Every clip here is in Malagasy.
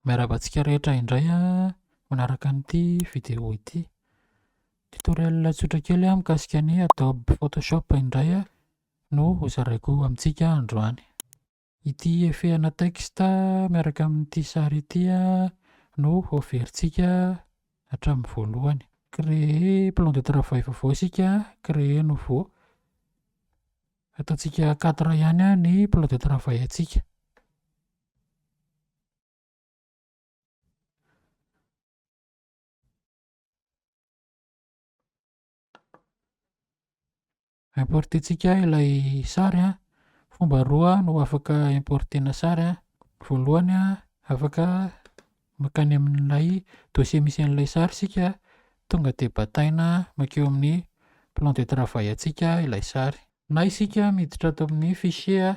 Miarahaba antsika rehetra indray manaraka an'ity video ity. Tutoriel tsotra kely mikasika ny Adobe Photoshop indray no hozaraiko amintsika androany. Ity efehana texte miaraka amin'ity sary ity no heverintsika hatramin'ny voalohany. Créer plan de travail vaovao isika, créer nouveau. Ataontsika quatre ihany ny plan de travail antsika. Importer-tsika ilay sary an. Fomba roa no afaka importer-na sary an. Voalohany an, afaka mankany amin'ilay dossier misy an'ilay sary isika, tonga dia bataina mankeo amin'ny plan de travail antsika ilay sary. Na isika miditra ato amin'ny fichier an,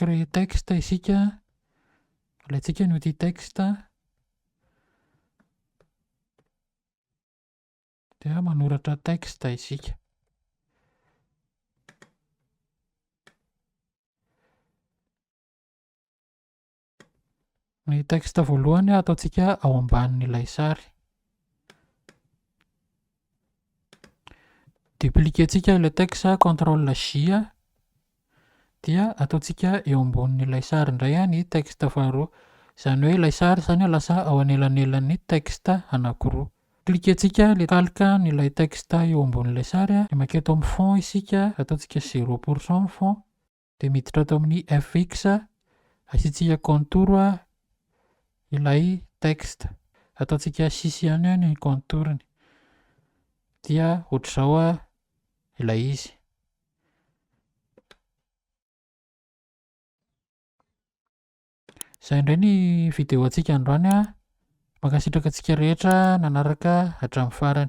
Créer texte isika, alaintsika ny outil texte, dia manoratra texte isika. Ny texte voalohany ataontsika ao ambanin'ilay sary. Dupliquer-tsika ilay texte contrôle J dia ataontsika eo ambonin'ilay sary indray ny texte faharoa. Izany hoe ilay sary izany lasa ao anelanelan'ny texte anankiroa. Cliquer-tsika ilay calque an'ilay texte eo ambonin'ilay sary dia mankeo amin'ny fond isika, ataontsika zéro pour cent ny fond. dia miditra ato amin'ny fx asiantsika contour ilay texte ataontsika sisy ihany ny contourny dia ohatr'izao ilay izy izay indray ny video antsika androany mankasitraka antsika rehetra nanaraka hatramin'ny farany